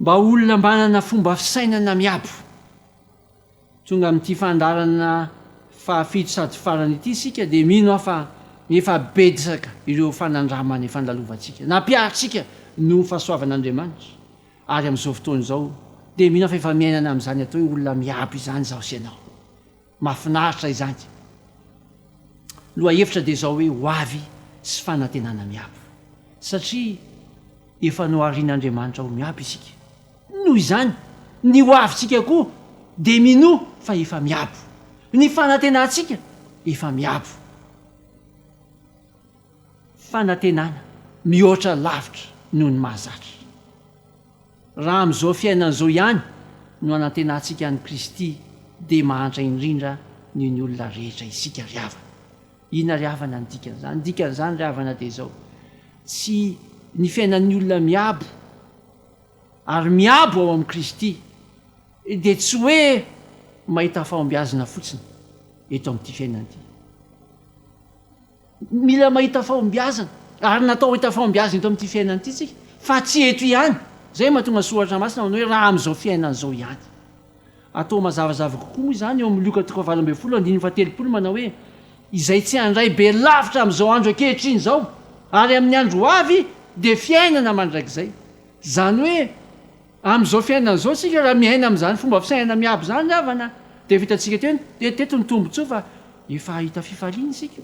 Mba olona manana fomba fisainana miabo. Tonga amin'ity fandaharana fahafito sady farany ity isika dia mino aho fa efa betsaka ireo fanandramana efa nandalovantsika, nampiharintsika noho ny fahasoavan'Andriamanitra ary amin'izao fotoana izao dia mino aho fa efa miainana amin'izany atao hoe olona miabo izany izaho sy ianao. Mafinaritra izany. Lohahevitra dia izao hoe ho avy sy fanantenana miabo. Satria efa noharin'Andriamanitra ho miabo isika. Noho izany, ny ho avintsika koa dia minoa fa efa miabo. Ny fanantenantsika efa miabo. Fanantenana mihoatra lavitra noho ny mahazatra. Raha amin'izao fiainana izao ihany no hanantenantsika an'i Kristy dia mahantra indrindra noho ny olona rehetra isika ry havana. Inona ry havana ny dikan'izany? Ny dikan'izany ry havana dia izao, tsy ny fiainan'ny olona miabo ary miabo ao amin'i Kristy dia tsy hoe mahita fahombiazana fotsiny eto amin'ity fiainana ity. Mila mahita fahombiazana ary natao hahita fahombiazana eto amin'ity fiainana ity isika fa tsy eto ihany. Izay no mahatonga ny Soratra Masina manao hoe raha amin'izao fiainana izao ihany. Atao mazavazava kokoa moa izany eo amin'ny Lioka toko fahavalo ambin'ny folo andininy fahatelopolo manao hoe izay tsy handray be lavitra amin'izao andro ankehitriny izao ary amin'ny andro ho avy dia fiainana mandrakizay. Izany hoe. Amin'izao fiainana izao isika raha miaina amin'izany fomba fisainana miabo izany ny havana dia vitantsika teo teto ny tombotsoa fa efa hahita fifaliana isika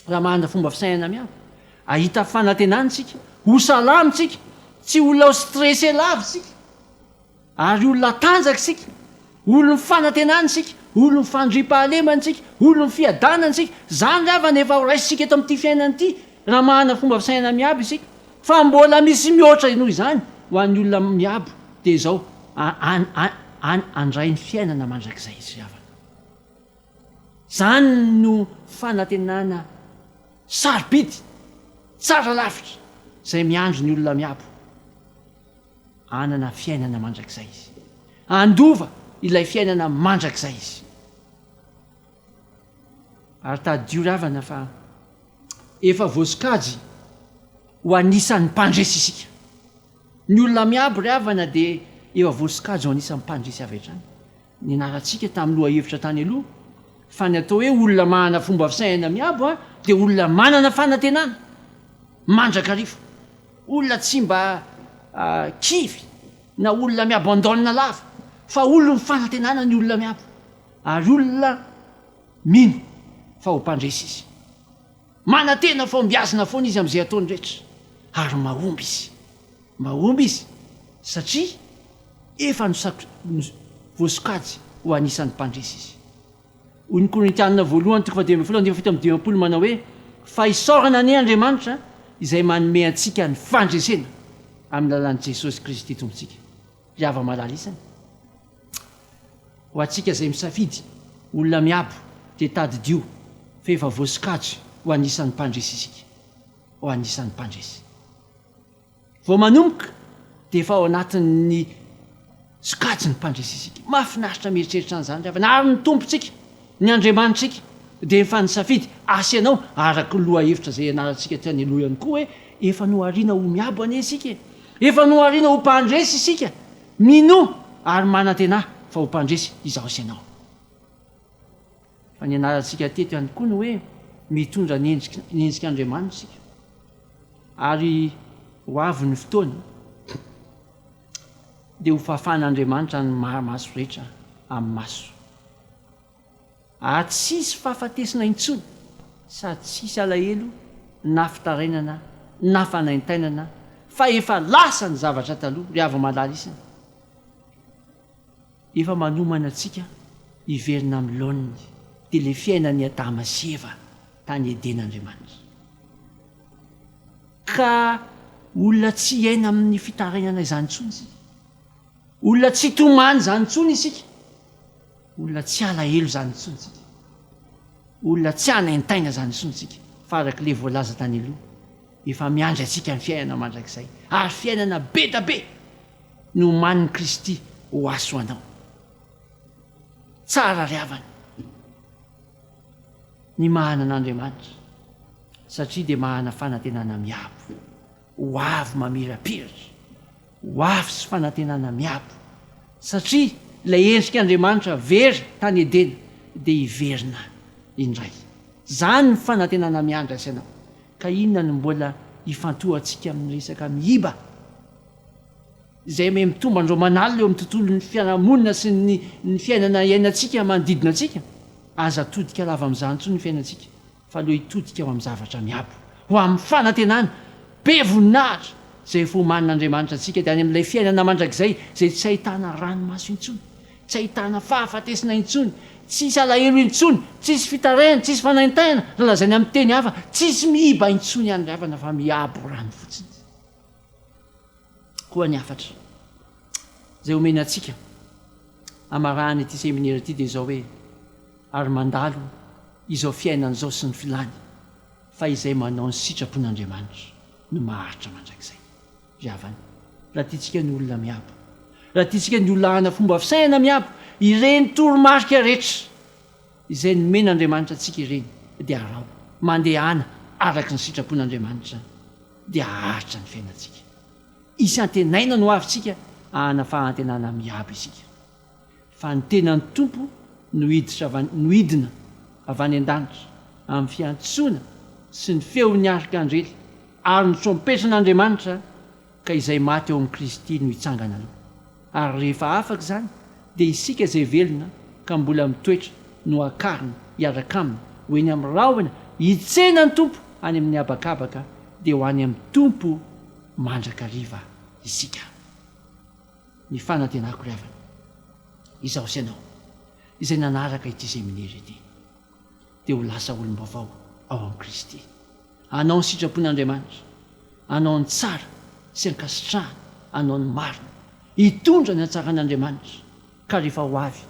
raha manana fomba fisainana miabo. Hahita fanantenana isika, ho salama isika, tsy olona stressé lava isika ary olona tanjaka isika. Olon'ny fanantenana isika, olon'ny fandriampahalemana isika, olon'ny fiadanana isika. Izany ilay havana efa horaisintsika eto amin'ity fiainana ity, raha manana fomba fisainana miabo isika. Fa mbola misy mihoatra noho izany ho an'ny olona miabo, dia izao, an, handray ny fiainana mandrakizay izy ry havana. Izany no fanantenana sarobidy, tsara lavitra, izay miandry ny olona miabo. Hanana fiainana mandrakizay izy. Handova ilay fiainana mandrakizay izy. Ary tadidio ravana fa efa voasokajy ho anisan'ny mpandresy isika. Ny olona miabo ry havana dia efa voasokajy ho anisan'ny mpandresy avy hatrany. Nianarantsika tamin'ny lohahevitra tany aloha fa ny atao hoe olona manana fomba fisainana miabo dia olona manana fanantenana mandrakariva, olona tsy mba kivy na olona miabo an-daonina lava fa olona mifanantenana ny olona miabo ary olona mino fa ho mpandresy izy. Manantena fa hombiazina foana izy amin'izay ataony rehetra ary mahomby izy. Mahomby izy satria efa voasokajy ho anisan'ny mpandresy izy. Hoy ny Korintiana voalohany toko fahadimy ambin'ny folo andininy fahafito amby dimampolo manao hoe, Fa hisaorana anie Andriamanitra izay manome antsika ny fandresena amin'ny lalan'i Jesosy Kristy Tompontsika. Ry hava-malala isany, ho antsika izay misafidy olona miabo dia tadidio fa efa voasokajy ho anisan'ny mpandresy isika. Ho anisan'ny mpandresy. Vao manomboka dia efa ao anatin'ny sokajin'ny mpandresy isika. Mahafinaritra mieritreritra an'izany ry havana. Ary ny Tompontsika, ny Andriamanitsika dia efa nisafidy asa ianao araka ny lohahevitra izay ianarantsika teny aloha ihany koa hoe efa nohariana ho miabo anie isika e! Efa nohariana ho mpandresy isika. Minoa ary manantenà fa ho mpandresy izaho sy ianao. Fa nianarantsika teto ihany koa ny hoe mitondra ny endrik'Andriamanitra isika ary ho avy ny fotoana dia ho fafan'Andriamanitra ny maso rehetra amin'ny maso ary tsy hisy fahafatesana intsony sady tsy hisy alahelo na fitarainana na fanaintainana fa efa lasa ny zavatra taloha ry havamalaly isany. Efa manomana antsika hiverina amin'ny laoniny, dia ilay fiainan'i Adama sy Eva tany Edena Andriamanitra. Ka olona tsy hiaina amin'ny fitarainana izany intsony isika. Olona tsy hitomany izany intsony isika. Olona tsy halahelo izany intsony isika. Olona tsy hanaintaina izany intsony isika, fa araka ilay voalaza tany aloha, efa miandry antsika ny fiainana mandrakizay, ary fiainana be dia be! Ny omanin'i Kristy ho aso anao. Tsara ry havana ny mahana an'Andriamanitra satria dia mahana fanantenana miabo ho avy mamirapiratra, ho avy sy fanantenana miabo satria ilay endrik'Andriamanitra very tany Edena dia hiverina indray. Izany ny fanantenana miandry azy anao. Ka inona no mbola hifantohantsika amin'ny resaka miiba? izay ome mitombo an'ireo manalina eo amin'ny tontolon'ny fiarahamonina sy ny ny fiainana iainantsika manodidina antsika, aza atodika lava amin'izany intsony ny fiainantsika fa aleo hitodika ho amin'ny zavatra miabo, ho amin'ny fanantenana be voninahitra izay efa omanin'Andriamanitra antsika, dia any amin'ilay fiainana mandrakizay izay tsy ahitana ranomaso intsony, tsy ahitana fahafatesana intsony, tsisy alahelo intsony, tsisy fitarihana, tsisy fanaintaina, raha lazaina amin'ny teny hafa, tsisy miiba intsony ihany ry havana fa miabo rano fotsiny. koa ny hafatra izay omeny antsika hamarahan' ity seminera ity dia izao hoe, ary mandalo izao fiainana izao sy ny filany, fa izay manao ny sitrapon' Andriamanitra no maharitra mandrakizay. Ry havana, raha tiantsika ny olona miabo, raha tiantsika ny olona hana fomba fisainana miabo ireny toromarika rehetra izay nomen' Andriamanitra antsika ireny dia araho, mandehana araka ny sitrapon' Andriamanitra. dia haharitra ny fiainantsika. Hisy antenaina no avintsika ahana fahantenana miabo isika. Fa ny tenan'ny Tompo no hiditra avy any, no hidina avy any an-danitra amin'ny fiantsoana sy ny feon'ny arkanjely ary ny trompetran'Andriamanitra, ka izay maty ao amin'i Kristy no hitsangana aloha. Ary rehefa afaka izany, dia isika izay velona ka mbola mitoetra no hakarina hiaraka Aminy ho eny amin'ny rahona hitsena ny Tompo any amin'ny habakabaka, dia ho any amin'ny Tompo mandrakariva isika. Ny fanantenako ry havana, izaho sy ianao izay nanaraka ity seminera ity, dia ho lasa olom-baovao ao amin'i Kristy. Hanao ny sitrapon'Andriamanitra, hanao ny tsara sy ankasitrahana, hanao ny marina, hitondra ny hatsaran'Andriamanitra ka rehefa ho avy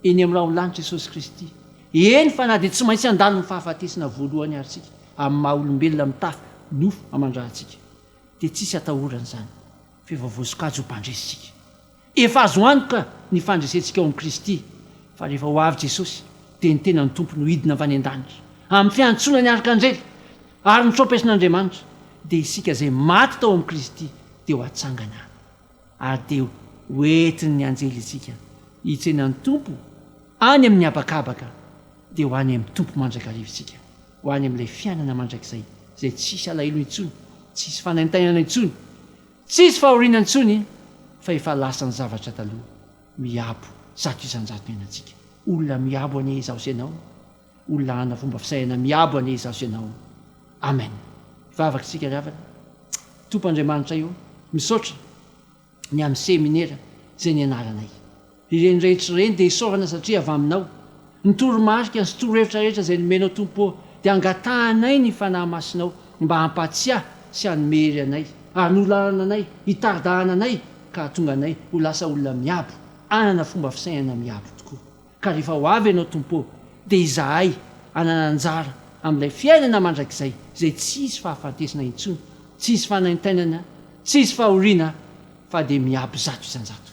eny amin'ny raholanitra Jesosy Kristy, eny fa na dia tsy maintsy handalo ny fahafatesana voalohany ary isika amin'ny maha olombelona mitafy nofo aman-dRatsika dia tsisy atahorana izany fa efa voasokajy ho mpandresy isika. Efa azo antoka ny fandresentsika ao amin'i Kristy, fa rehefa ho avy Jesosy, dia ny tenan'ny Tompo no hidina avy any an-danitra, amin'ny fiantsoana ny arkanjely ary ny trompesin'Andriamanitra, dia isika izay maty tao amin'i Kristy dia ho atsangana, ary dia hoentin'ny anjely isika hitsena ny Tompo any amin'ny habakabaka, dia ho any amin'ny Tompo mandrakariva isika, ho any amin'ilay fiainana mandrakizay izay tsy hisy alahelo intsony, tsy hisy fanaintainana intsony, Tsy hisy fahoriana intsony fa efa lasa ny zavatra taloha. Miabo zato isan-jato ny ainantsika. Olona miabo anie izaho sy ianao. Olona hanana fomba fisainana miabo anie izaho sy ianao. Amen. Hivavaka isika ry havana. Tompo Andriamanitray ô, misaotra ny amin'ny seminera izay nianaranay. Ireny rehetra ireny dia isaorana satria avy Aminao. Ny toromarika sy torohevitra rehetra izay nomenao Tompo ô, dia angatahanay ny Fanahy Masinao mba hampahatsiahy sy hanome hery anay, ary nolalana anay, hitari-dahana anay ka hahatonga anay ho lasa olona miabo, hanana fomba fisainana miabo tokoa. Ka rehefa ho avy Ianao Tompo ô, dia izahay hanana anjara amin'ilay fiainana mandrakizay izay tsy hisy fahafatesana intsony, tsy hisy fanaintainana, tsy hisy fahoriana fa dia miabo zato isan-jato.